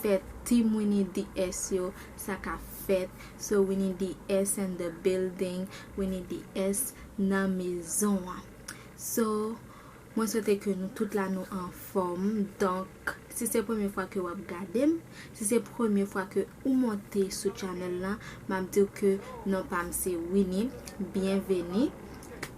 fèt team winnie DS yo sa ka fèt so winnie DS and the building winnie DS nan mezon an so mwen swete ke nou tout la nou anfòm donk si se premye fwa ke wap gadem si se premye fwa ke ou monte sou channel lan map diw ke non pam se winnie byenveni.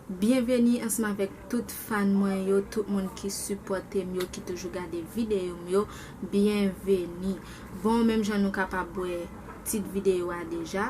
Byenveni ansanm avèk tout fan mwen yo tout moun ki sipòtem yo ki toujou gade video m yo byenveni bon menm jan nou kapab wè tit video a deja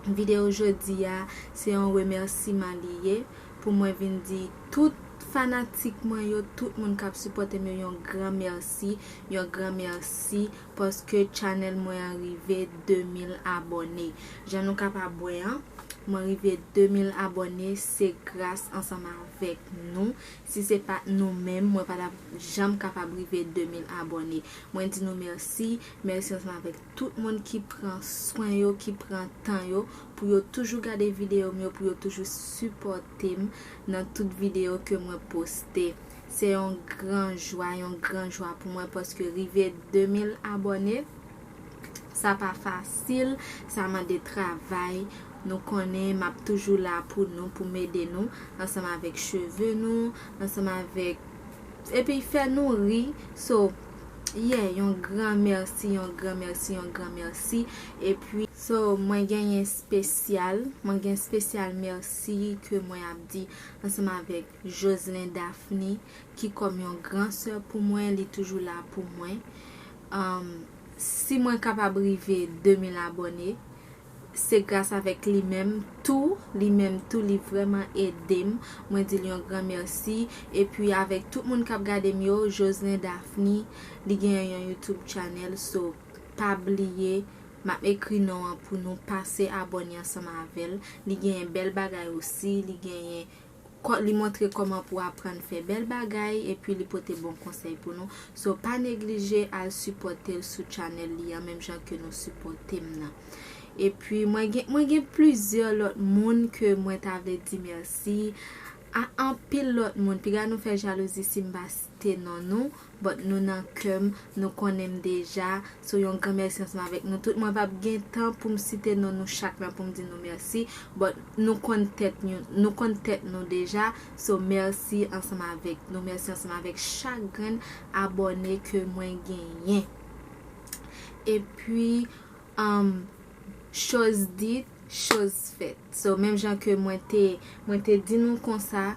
video jodi a se yon remèsiman li ye pou mwen vin di tout fanatik mwen yo tout moun kap sipòtem yo yon gran mèsi yon gran mèsi Paske channel mwen an rive 2000 abòne. Jan nou kapab wè an, mwen rive 2000 abòne se gras ansanm avèk nou. Si se pat nou menm, mwen pa tap janm kapab rive 2000 abòne. Mwen di nou mèsi, mèsi ansanm avèk tout moun ki pran swen yo, ki pran tan yo pou yo toujou gade videyo m yo, pou yo toujou sipòte m nan tout videyo ke mwen poste. Se yon gran jwa, yon gran jwa pou mwen paske rive 2000 abòne sa pa fasil, sa mande travay, nou konnen map toujou la pou nou pou m ede nou ansanm avèk cheve nou, ansanm avèk epi fè nou ri so yeah yon gran mèsi, yon gran mèsi, yon gran mèsi epi. So mwen genyen spesyal, mwen gen spesyal mèsi ke mwen ap di ansanm avèk Joslin Daphne ki kòm yon gran sè pou mwen li toujou la pou mwen um si mwen kapab rive 2000 abòne se gras avèk li menm tou li menm tou li vrèman edem mwen dil yon gran mèsi epi avèk tout moun kap gadem yo Joslin Daphne li gen yon YouTube channel so pa bliye map ekri non an pou nou pase abòne ansanm avèl li genyen bèl bagay osi li genyen Li montre kòman pou aprann fè bèl bagay epi li pote bon konsèy pou nou so pa neglije al sipòtel sou channel li an menm jan ke nou sipòtem nan epi mwen gen mwen gen plizyè lòt moun ke mwen ta vle di mèsi a anpil lòt moun piga nou fè jalouzi sim pa te non nou but nou nan kèm nou konnenm deja so yon gran mèsi ansanm avèk nou tout mwen pap gen tan poum site non nou chak la poum di nou mèsi but nou konn tèt yon nou konn tèt nou deja so mèsi ansanm avèk nou mèsi ansanm avèk chak grenn abòne ke mwen genyen epi Humm choz dit choz fèt so menm jan ke mwen te mwen te di nou konsa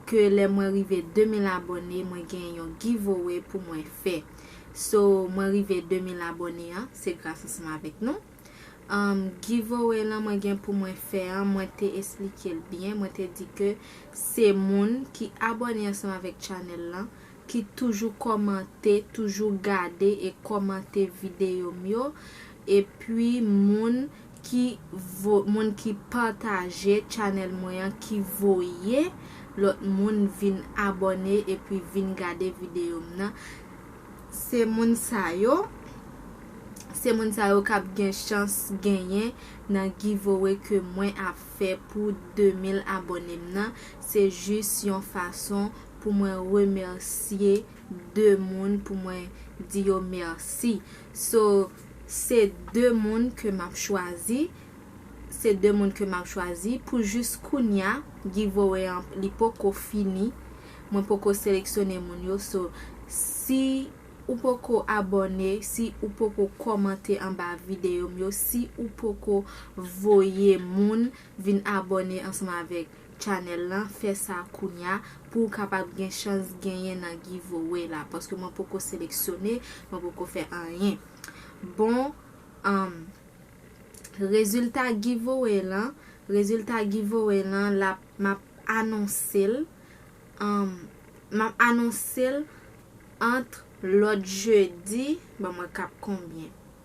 ke lè mwen rive 2000 abòne mwen gen yon giveaway pou mwen fè so mwen rive 2000 abòne an se gras ansanm avèk nou humm giveaway lan mwen gen pou mwen fè an mwen te esplikel byen mwen te di ke se moun ki abòne ansanm avèk channel lan ki toujou kòmante toujou gade e kòmante videyo m yo epi moun ki vo moun ki pataje channel mwen an ki voye lòt moun vin abòne epi vin gade videyo m nan se moun sa yo se moun sa yo kap gen chans genyen nan giveaway ke mwen ap fè pou 2000 abòne m nan se jis yon fason pou mwen remèsye 2 moun pou mwen di yo mèsi so se 2 moun ke map chwazi se 2 moun ke map chwazi pou jis kounya giveaway an li poko fini mwen poko seleksyone moun yo so si ou poko abòne si ou poko kòmante anba videyo m yo si ou poko voye moun vin abòne ansanm avèk channel lan fè sa kounya pouw kapab gen chans genyen nan giveaway la paske mwen poko seleksyone mwen poko fè anyen bon humm rezilta giveaway lan rezilta giveaway lan lap map anonsel humm map anonsel antr lòt jedi ban mwen kap konbyen.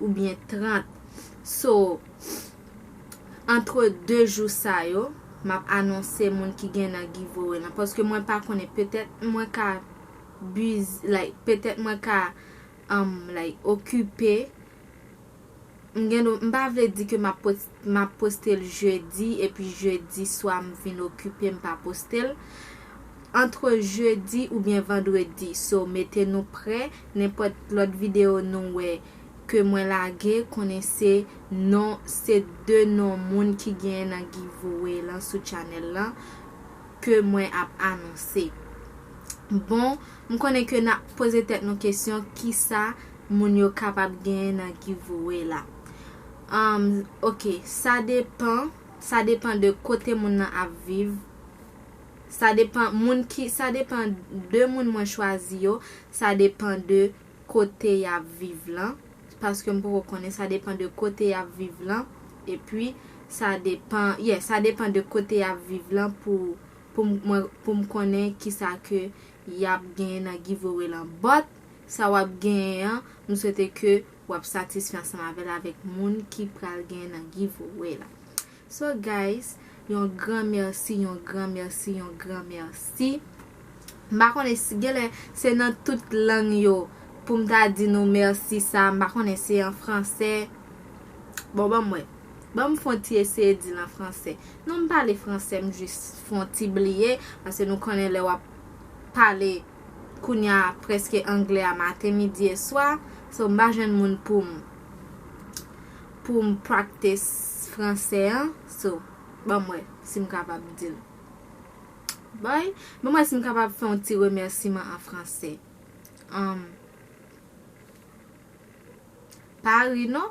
ou byen 30 so antre 2 jou sa yo map anonse moun ki gen nan giveaway lan paske mwen pa konnen petèt mwen ka busy like petèt mwen ka um like okipe m gen dwa m pa vle di ke map pote Map postel jeudi epi jeudi swa m vin okipe m pa postel Entre jeudi oubyen vendredi so mete nou prè nenpòt lòt video nou wè ke mwen lage konnen se non se 2 non moun ki genyen nan giveaway lan sou channel lan ke mwen ap anonse Bon m konnen ke nap poze tèt nou kesyon kisa moun yo kapab genyen nan giveaway la Humm ok sa depan sa depan de kote moun nan ap viv sa depan moun ki sa depan de moun mwen chwazi yo sa depan de kote yap viv lan paske m poko konnen sa depan de kote yap viv lan epi sa depan yeah sa depan de kote yap viv lan pou pou m mwen pou m konnen kisa ke yap genyen nan giveaway lan but sa wap genyen an m swete ke wap satisfè ansanm avèl avèk moun ki pral gen nan giveaway la so guys yon gran merci yon gran merci yon gran merci m pa konnen si genlè se nan tout lang yo poum ta di nou merci sa m pa konnen se an fransè bon banm wè banm fon ti eseye dil an fransè non m pale fransè m jis fon ti bliye paske nou konnen lè wap pale fransè kounya preske anglè a maten midi e swa so mpa jwenn moun poum poum practice fransè an so banm wè sim kapab dil bòy banm wè sim kapab fè yon ti remèsiman an fransè umm pa ri non.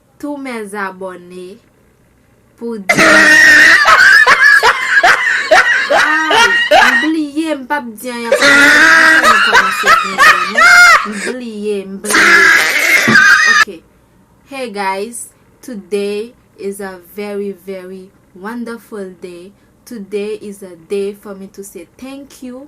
Tou mes abòne pou di Ay m bliye m pap di anyen pou nou se pa sa nou kòmanse byen byen non m bliye m bliye ok Hey guys today is a very very wonderful day today is a day for me to say thank you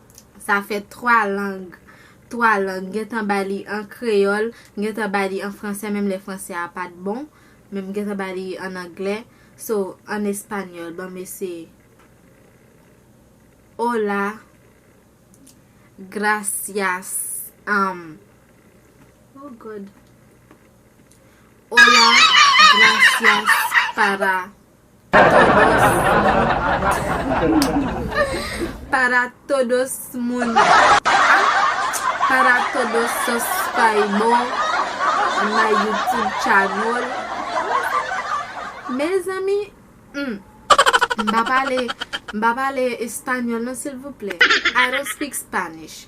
Sa fè 3 lang, 3 lang. M gentan ba li an kreyòl, m gentan ba li an fransè menm lè fransè a pa t bon, men m gentan ba li ann anglè. So, ann espanyòl, ban m eseye. Hola, gracias, am, oh God! Hola, gracias para. Para todos moun Para todos suscribor my YouTube channel Mezanmi humm m pa pale m pa pale español non silvouplè I don't speak Spanish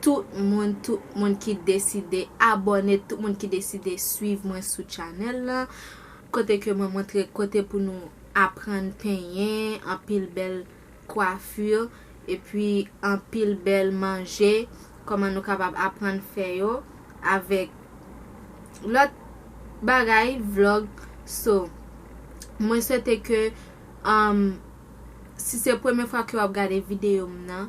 Tout moun tout moun ki deside abòne tout moun ki deside swiv mwen sou channel lan kote ke mwen montre kote pou nou aprann penyen anpil bèl coiffure epi anpil bèl manje kòman nou kapab aprann fè yo avèk lòt bagay vlog so mwen swete ke si se premye fwa ke wap gade videyo m nan.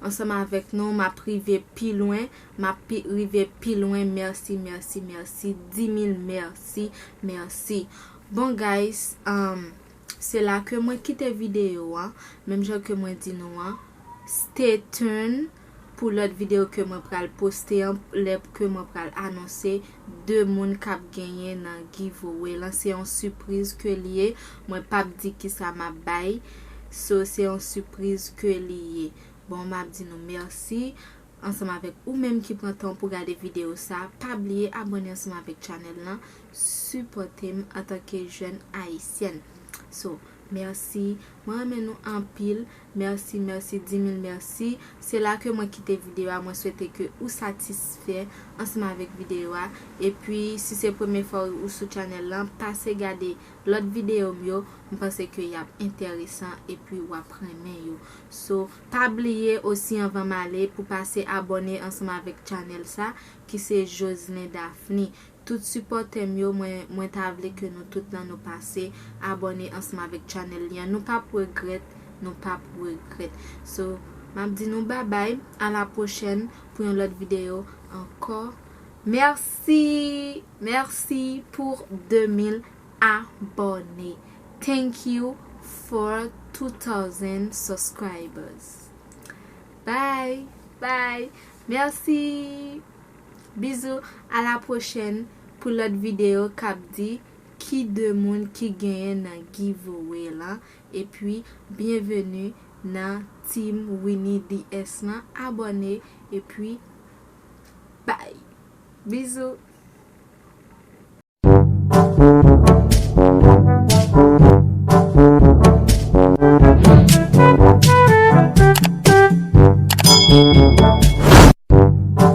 Ansanm avèk nou map rive pi lwen map pi rive pi lwen merci merci merci dimil merci merci bon guys um se la ke mwen kite video an menm jan ke mwen di nou an stay tune pou lòt video ke mwen pral poste an lè ke mwen pral anonse 2 moun kap genyen nan giveaway lan se yon sipriz ke li ye mwen pap di kisa map bay so se yon sipriz ke li ye bon map di nou merci ansanm avèk ou menm ki pran tan w pou gade video sa pa bliye abone ansanm avèk channel lan sipòte m antanke jèn ayisyèn so merci mwen renmen nou anpil. Merci merci di mil merci. Se la ke mwen kite video a mwen swete ke ou satisfè ansanm avèk video a epi si se premye fwa ou sou channel lan pase gade lòt video m yo m panse ke yap entèresan epi wap renmen yo so pa bliye osi anvan m ale pou pase abòne ansanm avèk channel sa ki se Joslin Daphni Tout sipòtèm yo mwen mwen ta vle ke nou tout lan nou pase abòne ansanm avèk channel li an nou pap regrèt nou pap regrèt so map di nou babay a la pwochèn pou yon lòt video ankò merci merci pour 2000 abòne thank you for 2000 subscribers bye bye merci. Bizou a la pwochèn pou lòt video kap di ki 2 moun ki genyen nan giveaway lan epi byenveni nan team Winnie DS lan abòne epi bay bizou.